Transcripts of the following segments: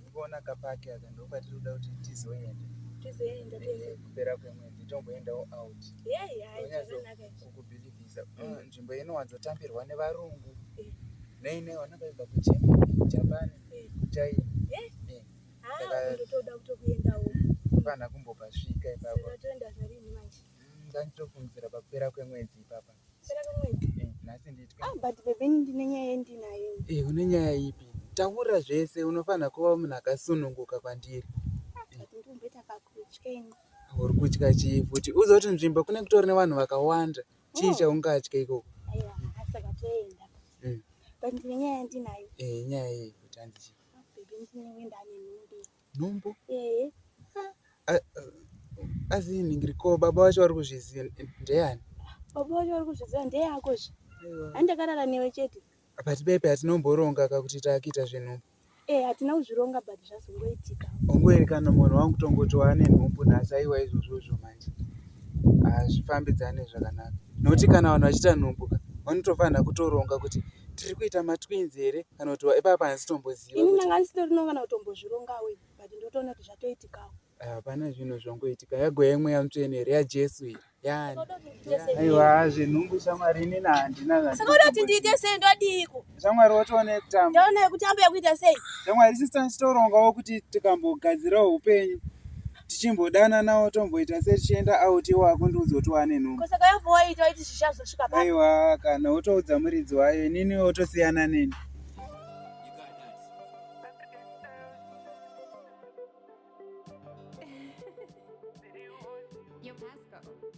Ndikuona kapaki aka ndopatiri kuda kuti tizoenda. Tizoenda tese. Kupera kwemwedzi tomboendawo out. Yeah, yeah, zvakanaka. Kukubhilivhisa. Mm. Mm, nzvimbo inowanzo tambirwa nevarungu. Eh. Nei nei wanakaibva kuGermany, Japan, eh. kuChina. Eh. Eh. Ah, ndotoda kutokuendawo. Kupana kumbopasvika ipapo. Saka toenda zvarini manje. ndanditofungisira pakupera kwemwedzi ipapa eh, nhasi nditwabutbebendinenyayaendinayo ah, eh, une nyaya ipi taura zvese unofanira kuva munhu akasununguka kwandiri uri kutya chii futi uzoti nzvimbo kune kutori nevanhu vakawanda chii oh. chaungatya ikoko hmm. eh, nyaya yei futi handii nhumbu eh. ah, ah, asi ningiri ko baba vacho vari kuzviziva ndeyani baba vacho vari kuzviziva ndeyako zve handakarara newe chete but bebe hatinomboronga ka kuti taakita zvenhumbu e hatina kuzvironga but zvazongoitika ongoerekana munhu wangu tongoti waane nhumbu nhasi aiwa izvozvozvo manje hazvifambidzane zvakanaka nokuti kana vanhu vachiita nhumbu ka vanotofanira kutoronga kuti tiri kuita matwins here kana kuti ipapa handitomboziva ini ndanga ndisitorino kana kutombozvirongawo but ndotoona kuti zvatoitikawo hapana ah, zvinhu zvongoitika yagoya imwe yamutsvene here yajesu iyi aiwa zvenhumbu shamwari inini handinasaka uda kuti ndiite sei ndodiiko shamwari wotoone kutamba ndaone kutamba yakuita sei shamwari sisita ndichitorongawo kuti tikambogadzirawo upenyu tichimbodananawo tomboita se tichienda out iwo akundiudza kuti wane nhumbu aiwa kana wotoudza muridzi wayo inini wotosiyana neni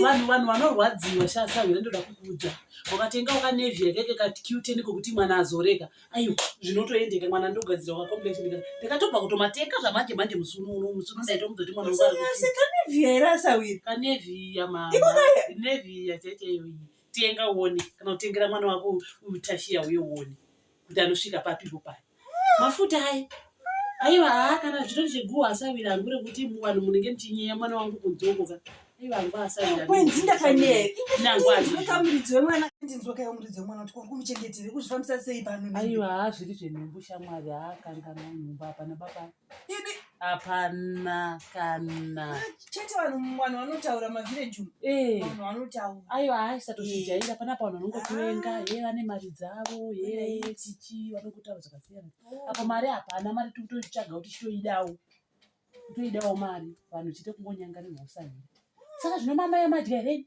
vanhu vanhu vanorwadziwa shasahwira ndoda kukuudza wakatenga wakanevhi yakaita katikiuteni kokuti mwana azoreka aiwa zvinotoendeka mwana ndogadzira wakakombechinika ndikatobva kutomateka zvamanje manje musi uno uno musi uno ndaitomudza kuti mwana wakaneviya here asahwira kaneviya maneviya chaitaiyoyi tenga uone kana kutengera mwana wako utashiya uye uone kuti anosvika papipo paya mafuta aye aiwa haa kana zvitori cheguwa asavira hangu rekuti muvanhu munenge muchinyeya mwana wangu kunzokoka aiwa hangu asaviraaiwa haa zviri zvenhumbu shamwari haa kangana nhumbu hapana baba ini hapana kana chete vanhu vanhu vanotaura mavillage umu Eh, vanhu vanotaura aiwa haisatozvijaira panapa vanhu vanongokuvenga he vane mari dzavo he chichi vanokotaura zvakasiyana apa mari hapana mari tiri kutoitsvaga kuti chitoidawo kutoidawo mari vanhu chite kungonyangarirwa usahira saka zvino mama yamadya here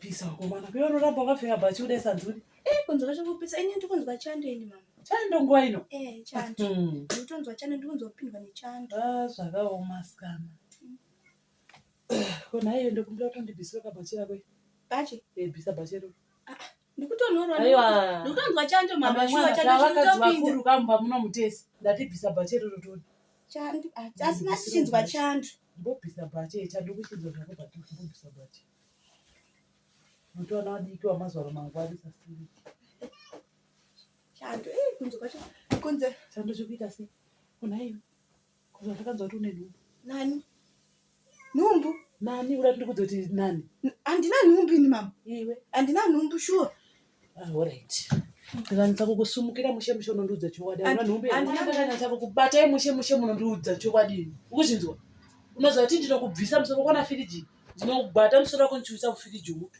pisa komana kuyo unoramba wakapfeka bhachi kudai sanzuri eh kunzwa chekupisa ini ndikunzwa chando ini mama chando nguva ino eh chando hmm. nditonzwa chando ndikunzwa kupindwa nechando ah zvakaoma sikana ko nhaiyo ndokumbira kuti ndibvisire kabhachi rako bhachi eh bvisa bhachi rako ah, ah, ndikutonhorwandikunzwa chando mama shuwa chando chinotopindo kamba muno mutesi ndatibvisa bhachi rero todi chando ah, asi masichinzwa chando ndobvisa bhachi eh, chando kuchinzwa zvako bhachi ndobvisa bhachi Mutoona wadiki wamazwaro mangwani sasiri. Chando eh kunze kwacho kunze chando chikuita sei? Kuna iwe. Kuzwa takanzwa kuti une nhumbu. Nani? Nhumbu? Nani ura tiri kudzoti nani? Andina nhumbu ini mama. Iwe andina nhumbu shuwa. Sure. Ndikanyatsa kukusumukira mushe mushe unondiudza chokwadi. Ndikanyatsa kukubatai mushe mushe munondiudza chokwadi. Ukuzvinzwa? Unoziva kuti ndinokubvisa musoro kwana firiji. Ndinokubata musoro wako ndichiuisa mufiriji muto.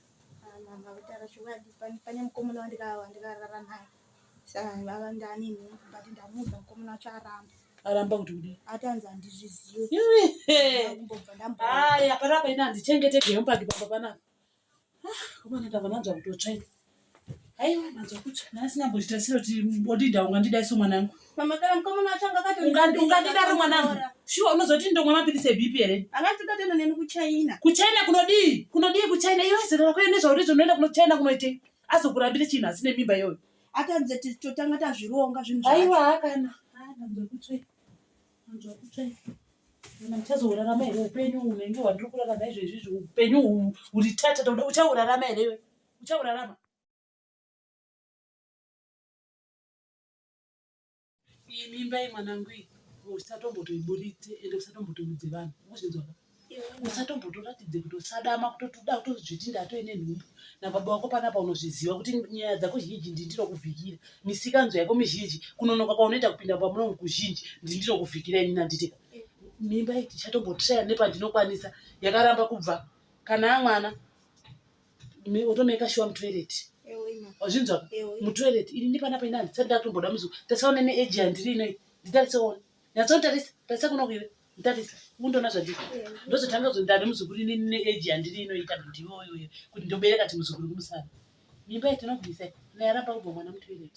Mama kutaura chokwadi pane mukomana wandikarara naye. Saka vava ndani but ndamuudza mukomana wacho aramba. Aramba kuti kudii? Atanzi handizvizivi. Hapana paina handichengeteke hemupaki pamba panapa. Komana ndava nanzwa kutotsva ini. Aiwa manzwa kutsva. Nhasi nambozvita siro kuti odida ungandida iso mwanangu. Mama kana mukomana wacho anga akati Ungandi- ungandidaro mwanangu shuwa unozoti ndomwa mapiritsi ebp here Akati udatenda neni kuChina. kuchina kunodii kunodii kuchina iwe zera rako yone zvauri zvinoenda kunochina kunoitei azokurambire chinhu asi nemimba iyoyo Atadze totanga tazvironga zvinhu zvacho. aiwa hakana Ah, ndanzwa kutsva ini. Uchazourarama here upenyu unenge wandiri kurarama izvezvizvi upenyu uri tata toda uchaurarama here iwe uchaurarama iyi mimba iyi mwanangu iyi usatombotoiburitse ende usatombotoudze vanhu uzvinzwaka usatombotoratidze kuti usadama kutotuda kutozviti ndatoine nhumbu nababa wako panapa unozviziva kuti nyaya dzako zhinji ndi ndinokuvhikira misikanzwa yako mizhinji kunonoka kwaunoita kupinda pamunomu kuzhinji ndi ndinokuvhikira ini nanditeka mimba iti chatombotraya nepandinokwanisa yakaramba kubva kana amwana otomeka shuwa mutoireti wazvinzwa mutoireti ini ndipanapa ini handisati ndatomboda muzuva tarisaone neeji yandiri inoi nditarisaone nyatsotarisa tarisa kunokuiwe Ndarisa, undoona zvandiri. Ndozotanga kuti ndane muzukuru ini ne age yandiri inoita ndiwo uyu kuti ndobereka ti muzukuru kumusana. Mimba yatinobvisa naye aramba kubva mwana mutoilet.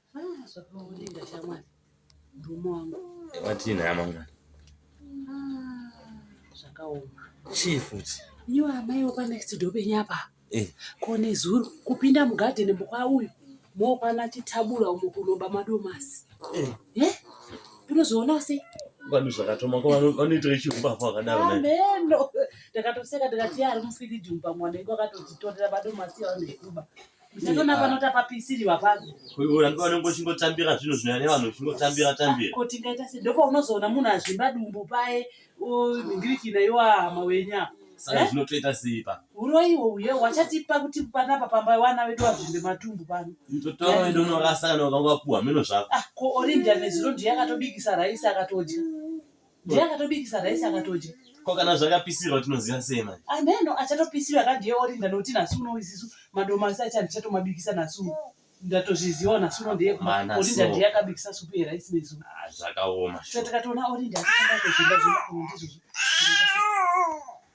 Ah, zvakaonenda shamwari murume wangu watii nhaya mangwana Ah, zvakaoma chii futi iyo amai wepa next door penyu apa Eh. kone zuro kupinda mugadheni mukwa uyu mokwana chitabula umo kunoba madomasi Eh. Eh? unozoona sei vanhu zvakatoma ko vano- vanoitira chiumbavha wakadaro naye ameno ndakatoseka ndikati ari mufiriji umu pamwana iko akatodzitorera madomasi avanekuba Ndakaona pano tapapisiriwa papo. Uyu angaona ngochingotambira zvinhu zvinoya nevanhu chingotambira tambira. Ko tingaita sei? Ndipo unozoona munhu azvimba dumbu paye mhingirikina yo hama wenyu apa. Saka eh? zvinotoita sei pa? Uroyi uye wachatipa kuti panapa pamba wana vedu vazvimbe matumbu pano. Mtoto wao ndio unorasa kana ukangopuwa meno zvako. Ah, ko Orinda nezuro ndiye akatobikisa raisi akatodya. ndiye akatobikisa rice akatodya ko kana zvakapisirwa tinoziva sei manje ameno ah, achatopisirwa ka ndiye orinda noti nhasi uno isisu madomasi acho andichatomabikisa nhasi uno ndatozviziva nhasi uno ndiye orinda ndiye akabikisa supu yerice nezuva ah, zvakaoma so takatoona orinda aaa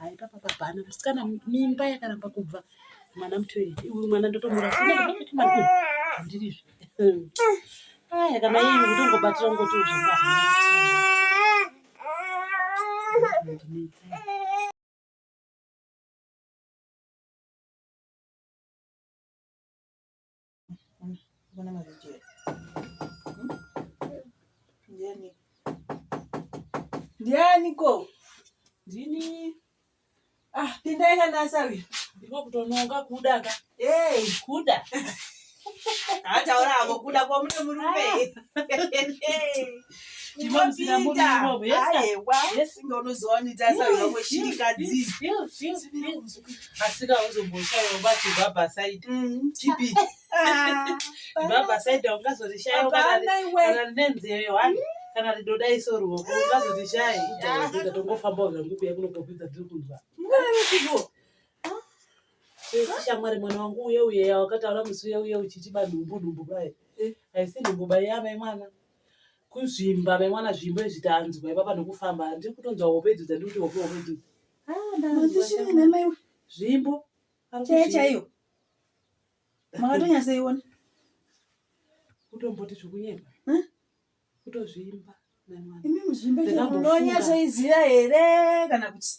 Hai papa pabhana musikana mimba yakaramba kubva mwana mutoilet iwe mwana ndotomuraaandiri izvi aya kana ii kutongobatira ungoti uzvaa Mbona mavideo hmm? ndiani ndiani ko ndini ah pindai kanasa uyu ndiko kutononga kuda ka hey kuda ataura avo kuda kwamune murume ah. kana ridodaiso ruoko ungazotishai tongofamba zvangu kuya kunokopidza tiri kunzwa shamwari mwana wangu uye uye yawakataura musi uye uye uchiti banhumbu nhumbu bai aisi nhumbu bai yavai mwana kuzvimba mai mwana zvimbo izvi tanzwa ipapa nokufamba handiri kutonzwa hope idzo dzandiri kuti hope hope idzo ah, zvimbo chaiyo chaiyo makatonyasaiona kutomboti zvokunyepa kutozvimba ndonyasoiziva here kana kuti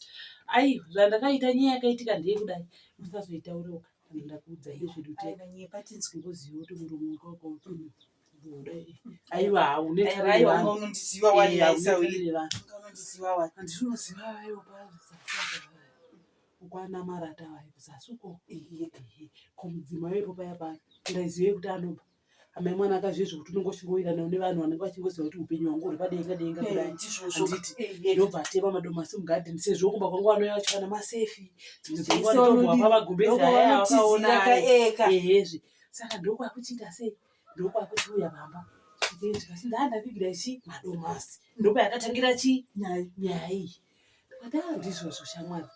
ai zvandakaita nyaya yakaitika ndeye kudai musazoitauroka ndakuudza izvedutekanyepa tinzwe kuziva kuti murume wakaukautunuka aiwa haunetaiwaunondiziva ukwana marata vayo zasuko komudzima wepo paya pa ndaizive kuti anoba amai mwana akazviye zvekuti unenge uchingowirirana une vanhu vanenge vachingoziva kuti upenyu hwangu huri padenga denga kudaiti ndobva atema madomasi mugadheni sezvo kumba kwangu vanouya vachivana masefi dzimwe dzenguva ndotombwa kwavagumbezi aya vakaona ehe zve saka ndokwakuchiita sei ndokwakuchiuya pamba ndikati ndaa ndavigira chi madomasi ndopayakatangira chi nyaya iyi ndaa ndizvozvo shamwari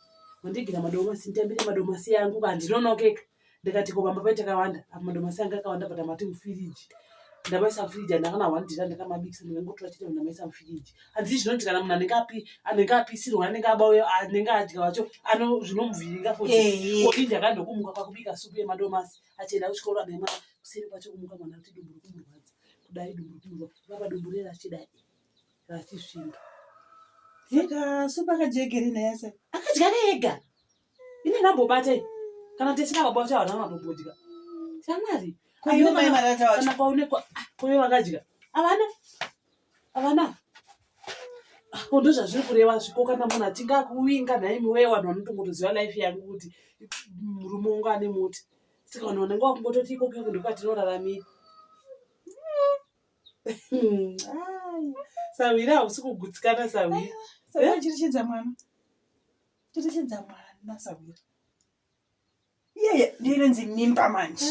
wandigira madomasi nditambire madomasi yangu ka ndinonokeka ndikati ko pamba paita kawanda apa madomasi anga akawanda patamati mufiriji ndamaisa mufiriji andakana wandira ndakamabikisa ndikangotora chitendo ndamaisa mufiriji hanzi zvinoti kana munhu anenge api anenge apisirwa anenge abauya anenge adya wacho ano zvinomuvhiringa foti ndakandokumuka kwakubika supu yemadomasi achienda kuchikoro anema kuseri kwacho kumuka mwana kuti dumbu rikumurwadza kudai dumbu rikumurwa vava dumbu rera achidai rachisvinga saka supu akadya egerina yase akadya ega ine nambobata kana tesina baba vacho havana mambobodya shamwari kana kwaonekwa ah, kuve vakadya havana Avana ko ndozvazviri kureva zviko kana munhu achinge akuvinga nhaimi wee vanhu vanotongotoziva life yangu kuti murume wangu ane muti saka vanhu vanenge vakungototi ikoko iko ndokwatinoraramira sahwiri hausi kugutsikana sahwiri chirichidza mwana chirichidza mwana sahwiri iyeye ndirinzi mimba manje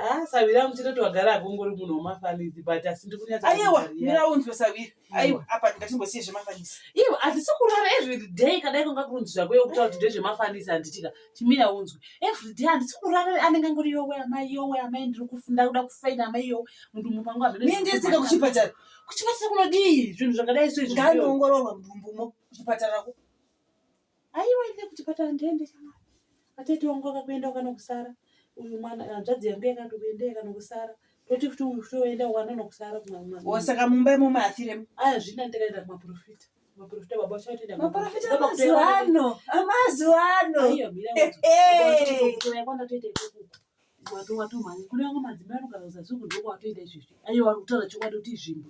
ah, savira muchitoti wagara akongori munhu wemafanisi but asi ndikunyaayewa miraunzwe savira mm. aiwa apa ndingatimbosiye zvemafanisi iwe handisi kurara everyday kadai konga kurunzi zvako yokutaura kuti ndezvemafanisi handitika chimira unzwe everyday handisi kurara anenge ngori yowe amai yowe amai ndiri kufunda kuda kufaina amai yowe munhu mupangu amendisika kuchipatara kuchipatara kunodii zvinhu zvakadai so izvi ngaanoongororwa mudumbumo kuchipatara ko Aiwa ine kuti patara ndiende shamwari. Atete wangu akakuenda ukanokusara. Uyu mwana hanzvadzi yangu yakati kuenda yakanokusara. Toti kuti uyu kuti oenda wana nokusara kumwe mwana. Osaka mumba imomo afiremo. Aya zvina ndikaenda kumaprofita. Maprofita baba uchatoenda. Maprofita amazuva ano. Amazuva ano. Aiwa mira. Hey. Kuya kwanda toita ikuku. Watu watu mwana. Kune wangu madzimai anogara kuzazuku ndoko watoita izvizvi. Aiwa kutaura chokwadi kuti izvimbo.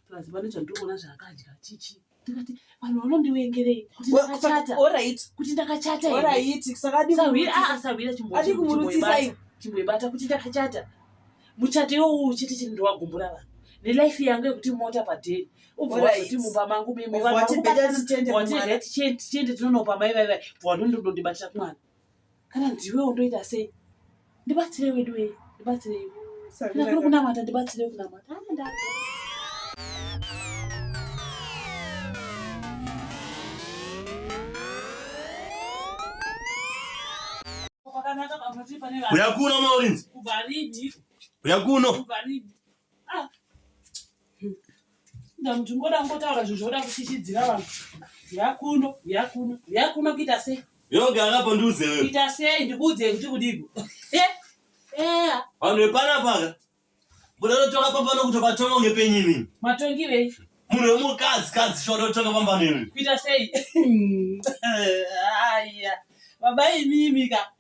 Plus vanoita ndoko na zvakadya chichi. ndikati vanhu vanondivengerei kuti ndakachata orit kuti ndakachata orit sakadisahwira chimboibatai chimboibata kuti ndakachata muchato iwowu chete chete ndiwagumbura vanhu nelife yangu yekuti mota padheri ubvazoti mumba mangu mimivatiende tichende tinonopa mai vaivai bvawandondondibatira kumwana kana ndiwe undoita sei ndibatsire wedu wei ndibatsire kana kuri kunamata ndibatsire kunamata uya kuno maurinzi uya kuno ndamuti ngoda ngotaura zvinhu zvoda kuchichidzira vanhu yakuno yakuno yakuno kuita sei yoga akapo ndiuze wewe kuita sei ndikuudze kuti kudiko eh, eh. vanhu vepanapaka buda totonga pambano kuti vatonga unge penyu imini matongi vei munhu wemukadzi kadzi shoda kutonga pambano imini kuita sei aya baba imimi ka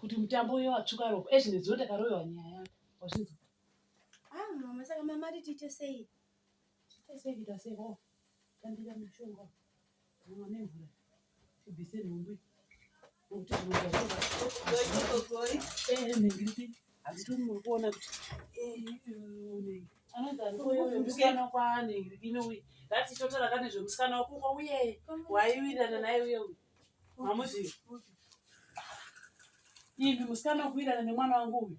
kuti mutambo uyo watsvuka ropa ezvinezvo takaroyewa nyaya yako wazvinzwa ah mama saka mama ati tiite sei tiite sei kuita sei ho oh, tambira mushonga ndatitotara kane zvemusikana wakungo uye waiwirana naye uye uyu mamuzivi ivi musikana wakuwirana nemwana wangu uyu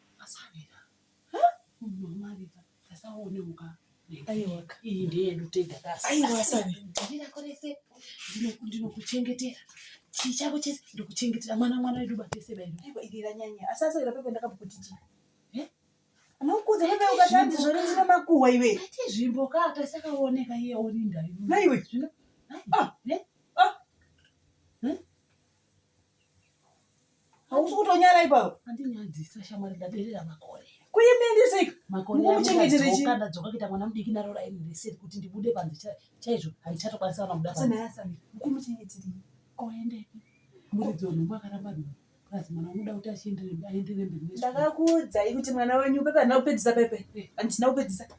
Asavira. Huh? Munhu wamavira. Asaone muka. Aiwaka. Iyi ndeyedu tega kasi. Aiwa asavira. Ndira korese. Ndinokuchengetera. Chii chako chese ndokuchengetera mwana mwana wedu batese bairo. Aiwa iri ranyanya. Asasavira pepe ndakakuti chii. Eh? Unokuza hebe ukatadzi zvori ndine makuhwa iwe. Ati zvimbo ka atasakaoneka iye orinda. Naiwe. Zvino. Ah, ne? hausi kutonyara ipapo andinyadzisa shamwari ndaderera makore kuimindisika mukuchengeterechiadzoka kuita mwana mudiki naro raini reseri kuti ndibude panze chaizvo handichatokwanisa vana mudamukuchengeterei oendepi muridzi wenhombo akaramba nhombo plus mwana unoda kuti achienderemberi ndakakuudzai kuti mwana wenyu pepe handina kupedzisa pepe handina kupedzisa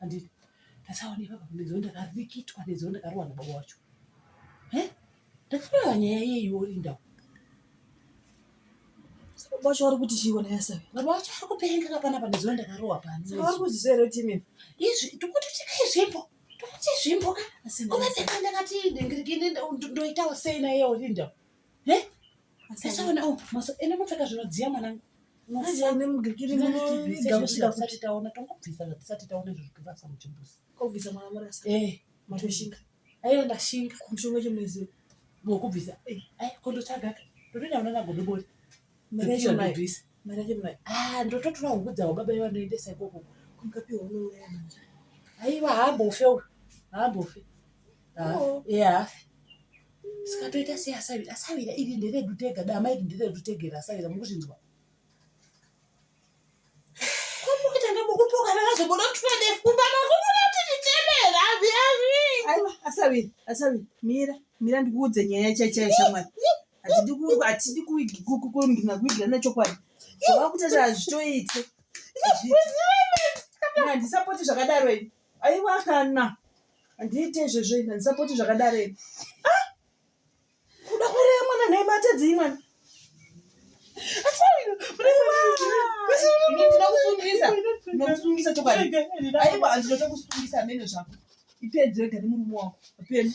handiti ndasaona ipapa ndizoo ndakarikitwa ndizoo ndakarowa nababa wacho e ndakarowa nyaya yeyi worinda baba wacho wari kuti chiiko nayasave baba wacho ari kupenga kapanapa ndizoo ndakarowa pani vari kuzvisero timi izvi tikuti tikaizvimbo tikuti zvimbo ka kuvateka ndakati ndingirikini ndoitawo sei naye worinda Eh? Asaona oh, maso ene mupfeka zvinodziya mwanangu. Maziya ene mugirikiri munoviga kusvika kusati taona tongobvisa zvatisati taona izvo zvikurasa muchimbuzi. Kobvisa mwana murasa. Eh, matoshinga. Ayo ndashinga. Kumshonga chimwezi. Mokubvisa. Eh, ayo kondotsvaga. Ndotoenda unaona godobori. Mrecho mai. mari yacho mai ah ndototora huku dzavo baba ivo vanoendesa ikoko kumkapiwa unouraya mari aiwa haambofe uyu haambofe Oh. ya saka toita sei asavira asavira iri nderedu tega dama iri nderedu tegera asavira mukuzvinzwa komukutanga mukupokana vazobuda tuende kumbana kubuda tichitendera azvi azvi aiwa asaviri asaviri mira mira ndikuudze nyaya chaichaya shamwari hatidi kuigirana kuigirana chokwadi zvavakutoita hazvitoite handisapoti zvakadaro ini aiwa kana handiite izvezvo ini handisapoti zvakadaro ini ah! kuda kureya mwana nhai matadzi imwana ndinoda kusungisa ndinokusungisa chokwadi aiwa handinoda kusungisa amene zvako ipedzwe gari murume wako apeni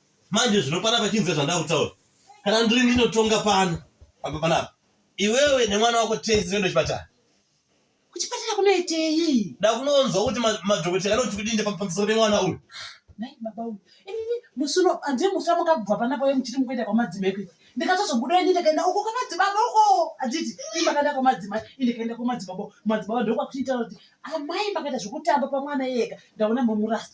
manje zvino panapa chinzwa zvandava kutaura kana ndiri ndinotonga pano apa panapa iwewe nemwana wako tese toenda kuchipatara kuchipatara kunoitei da kunonzwa kuti madhokotera anoti kudinde pamusoro pemwana uyu nai baba uyu inini musi uno handii musi wamukabva panapa uye muchiti mukuenda kwamadzimai kuiti ndikatozobuda ini ndikaenda uko kwamadzibaba uko handiti ii makaenda kwamadzimai i ndikaenda kwamadzibaba madzibaba ndokwakuchiitaura kuti amai makaita zvekutamba pamwana iyeka ndaona mamurasa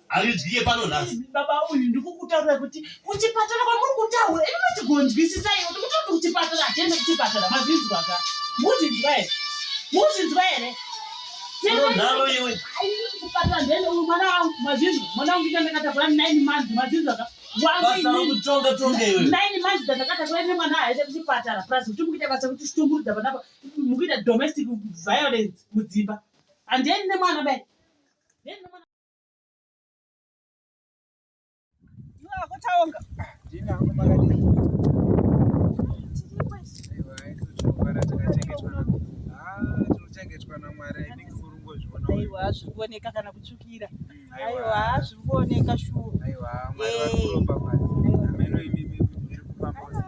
aridye pano nhasi baba uyu ndikukutaurira kuti kuchipatara kwamuri kutaura ini machigonzwisisa iwe ndikutaura kuti kuchipatara hatiende kuchipatara mazvinzwa ka muzvinzwa here muzvinzwa here nharo iwe kuchipatara ndene uyu mwana wangu mazvinzwa mwana wangu ndandakatagura nine months mazvinzwa ka nine months dzandakatagura ine mwana aende kuchipatara plus kuti mukuita basa kuti chitumburudza panapa mukuita domestic violence mudzimba andieni nemwana be hazviri kuoneka kana kutsvukira mm, aiwa hazviri kuoneka shuwa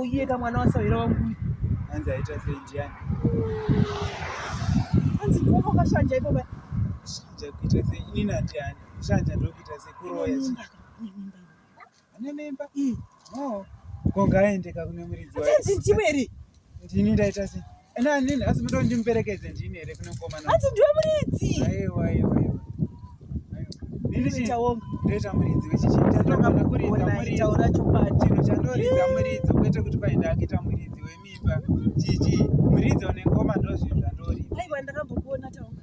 uye kamwana wasahwira wangu anzi aita sei ndiani anzi ndoko kashanja iko ba shanja kuita sei ini natiani shanja ndokuita sei kuroya ane mimba no ko ngaendeka kune muridzi wanzi ndimwe ri ndini ndaita sei Ena nini asi mudo ndimuperekedze ndini here kune mukomana. Asi ndiwe muridzi. Aiwa aiwa aiwa. Nini chitaonga. Ndoita muridzi wechichi. Ndatoka mukuridza muridzi. Taura chokwadi. Chinhu chandoridza muridzi kwete kuti paenda akita muridzi wemimba. Chichi muridzi one ngoma ndozvinhu zvandoridza. Aiwa ndakambokuona taonga.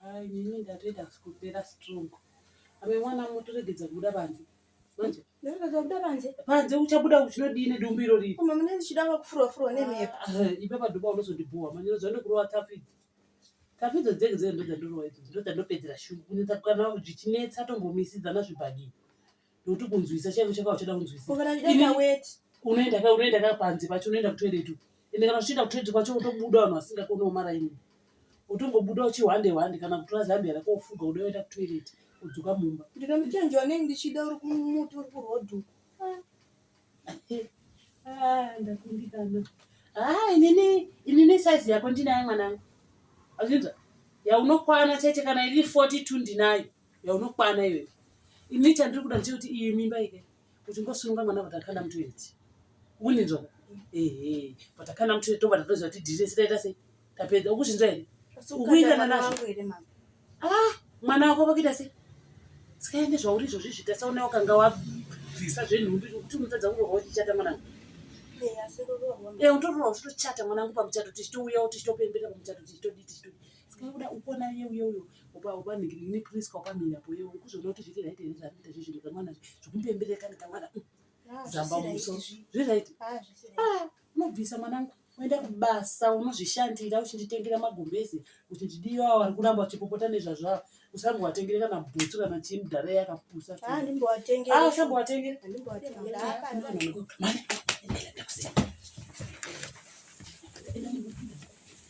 Hai, nini ndatoita kupera strong. Ame mwana mutoregedza kubuda panze. Manje. Ndatoregedza kubuda panze. Panze uchabuda uchinodii nedumbu iro riri. Mama mune ndichida kufurwa furwa nemhepo. Ah, eh, ipa paduba unozondibhowa. Manje ndozvane kurowa tafidzi. Tafidzi dzenge dzenge ndozvandirowa idzo. Ndozvandopedzera shungu. Kunetsa kukana zvichinetsa tombomisidzana zvibhadii. ndokuti kunzwisa chaivo chaka uchada kunzwisaunoenda ka panze pacho unoenda kutoilet ende kana uchienda kutoilet kwacho utobuda vanhu vasingakoni omaraini utongobuda uchihwande hwande kana kutora zambia rako ufuga uda oenda kutoilet udzoka mumba ndinomuchenji wanei ndichida uri kumuti uri kurodhu ah. ah, ndakundikana haa ah, inini inini saizi yako ndinayo mwanangu azvinza yaunokwana chete kana iri forty two ndinayo yaunokwana iwe ini chandiri kuda ndechekuti iyi mimba ike kuti ngosununga mwana kuti akana mutoiti uninzwa ehe but akana mutoiti tobva tatoziva kuti dhiri rese taita sei tapedza ukuzvinzwa here ukuitana nazvo ah mwana wako vakuita sei sikaende zvauri izvozvi zvitasaona wakanga wabvisa zvenhumbi kuti unotadza kurorwa uchichata mwanangu e utororwa uchitochata mwanangu pamuchato tichitouyawo tichitopembera pamuchato tichitodii tichitodii sikakuda upona ye uye uyo upa upa nigini please kwa kwa mina boye ukuzona kuti zviri right here zvapita zvi zviri kamwana zvikumbembere kana kamwana ah, zamba muso zviri right ah, ah unobvisa mwanangu uenda kubasa unozvishandira uchinditengera magumbezi kuti ndidiyo awo ari kuramba uchipopota nezvazvavo usambowatengere kana bhutsu kana chii mudhara yakapusa usambowatengere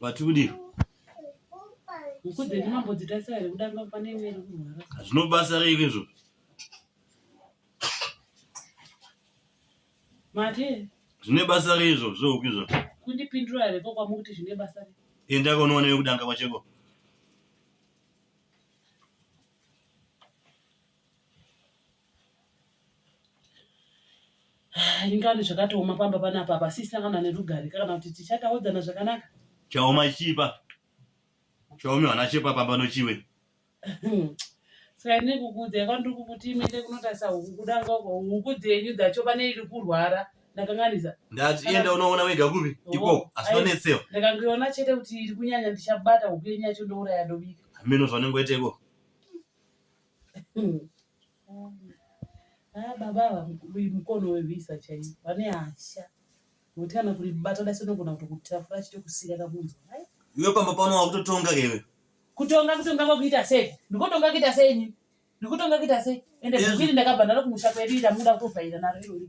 vatudi zvinobasa reiko izvo zvine basa reizvo zvohuku izvo kundipindura here ko kwamukuti zvine basa enda konoona yekudanga kwacheko ringani zvakatooma pamba panapa apa sisangana nerugare kana kuti tichataudzana zvakanaka chaoma chipa chaomi vana chepa pamba nochiwe saka ine kukudza yakandiri kukuti imende kunotarisa huku kudanga huku dzenyu dzacho pane iri kurwara ndakanganisa ndati enda unoona wega kupi oh, iko asi tonetsewa ndakangiona chete kuti iri kunyanya ndichabata huku yenyu yacho ndouraya ndobika hameno zvanengoiteko Ah, baba ava mukono wevisa chaiyo vane hasha nokuti kana kuribata dasi unogona kuti kutafura achito kusiya kakunzwa iwe pamba pano wakutotonga kewe kutonga kutonga kwakuita sei ndikotonga kuita sei ini ndikutonga kuita sei ende bhukiri ndakabva ndaro kumusha kwedu ita muda kutovhaira naro irori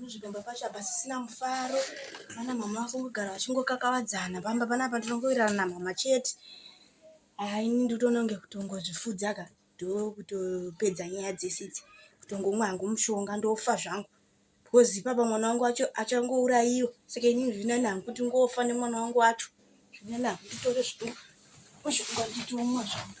Muzvigamba pacho apa sisina mufaro vana mama vakungogara vachingokakavadzana pamba panapa ndinongowirirana namama chete haa ini nditoona kunge kutongozvifudza ka ndokutopedza nyaya dzese idzi kutongomwa hangu mushonga ndofa zvangu because ipapa mwana wangu wacho achangourayiwa saka ini zvinani hangu kuti ngofa nemwana wangu wacho zvinani hangu nditore zvitu mushonga nditomwa zvangu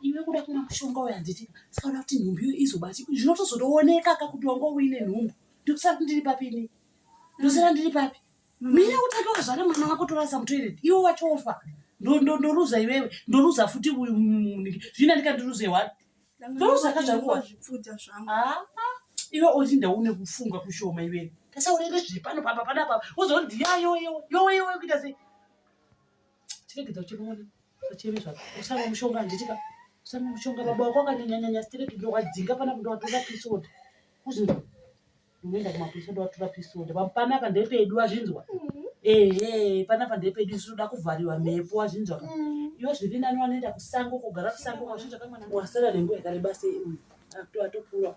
iwe kuda kumwa mushonga uyo handiti tikaona kuti nhumbu iyo izobati zvinotozotooneka ka kuti wanga uine nhumbu ndokusara kuti ndiri papi ini ndosara ndiri papi mina utatoa zvana mwana wako torasa mutoireti iwe wachofa ndoruza iwewe ndoruza futi uyu muniki zvina ndikandiruze wa ndoruza ka zvakuwa iwe oti ndaune kufunga kushoma iwewe tasaurere zviri pano papa panapa wozoonzi yayoyo yoweyowe kuita sei chiregedza uchimona sachemi zvako usamwa mushonga handitika usamwa mushonga baba wako akanyanyanyanya sitiregedza wadzinga pana kuti watora pisoda kuzvinzwa unoenda kumapurisa kuti watora pisoda panapa ndepedu wazvinzwa mm-hmm. ehe panapa ndepedu isu toda kuvhariwa mhepo wazvinzwa ka mm-hmm. iwo zviri nani wanoenda kusango kugara kusango wazvinzwa kamwana wasara nenguva yakareba sei uyu atopuwa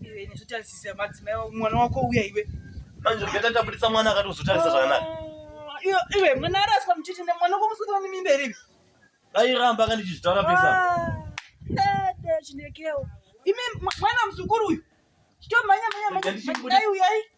Iwe nezvitarisisa madzimai mwana wako uya iwe. Manje ungeta tabuditsa mwana akati uzotarisa zvakanaka. Ah, iwe mwana araswa muchiti nemwana wako musukira nemimba here iwe? Airamba kana ndichizvitaura pesa. Dada ah, chindekewo. Imi mwana muzukuru uyu. Chitomhanya mhanya mhanya. Dai uyai.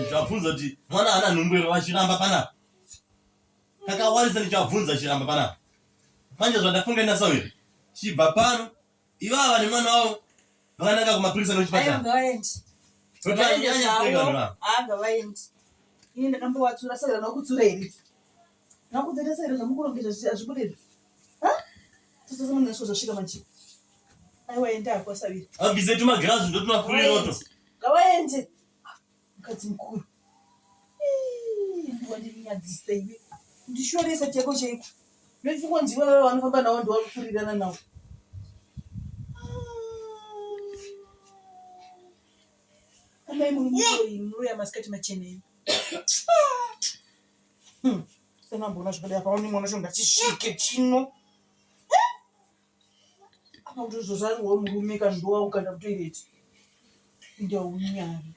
ndichabvunza kuti mwana ana nhumbu here vachiramba panapa kakawanisa ndichabvunza chiramba panapa manje zvandafunga naso here chibva pano ivava nemwana wavo vakananga kumapurisa nochipatara Nakudzeta sero namukurongedza zvichi azvibude izvi. Ha? Sasa sema ndasho zvasvika manje. Aiwa enda kwa savira. Abize tuma grazi ndo tuma free roto. Ngawaende. Mukadzi mukuru. Ndiwa ndirinyadzisa iwe. Ndishoresa chako chaiko. Ndochikonzi iwe vanofamba nawo ndiwakufurirana nawo. Amai muri muroyi, muroyi amasikati machena imi. Hmm. Sema mbona zvakadai apa onimwe unoshonga chisvike chino. Apa kuti uzozvarirwa murume kana ndowa ukanda kutoilet. Ndaunyari.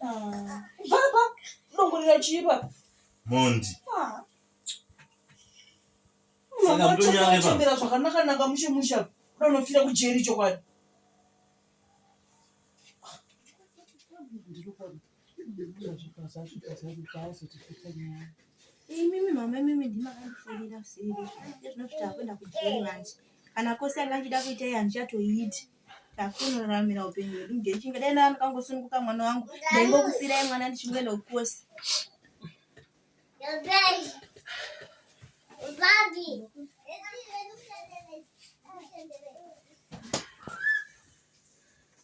Ah. Baba, ndongorira chipa. Mondi. Ah. Saka mtonyare pa. Chembera zvakanaka naka mushe musha. Unofira kujeri chokwadi. imimi mama imimi ndimakandifonera seri ezvinozvita akuenda kujeri manje kana kose anga ndida kuita iye handichatoiti takunoraramira upenyu hwedu ndechinga dai ndaa ndikangosununguka mwana wangu ndaingokusiirai mwana ndichingoenda kukose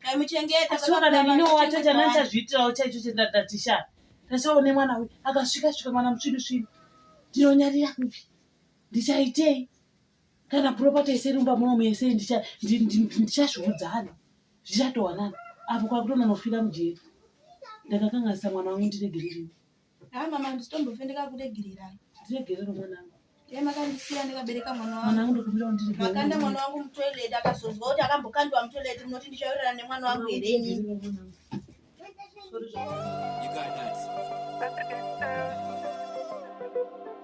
ndaimuchengetaaatazviitirawo chaicho chendatisha tasawo nemwana uyu akasvika svika mwana musvidu svidu ndinonyarira kupi ndichaitei kana puropati yese rumba munomu yese ndichazviudzana zvichatowanana apo kwakutononofira mujeri ndakakanganisa mwana wangu ndiregererei Ah mama ndisitombofe ndakakuregererai. Ndiregerero mwanangu. Yeye makandisiya ndikabereka mwana wangu. Mwanangu ndikubira ndiri. Makanda mwana wangu mutoilet akazonzwa kuti akambokandwa mutoilet munoti ndichawirirana nemwana wangu here ini. Sorry. You got that.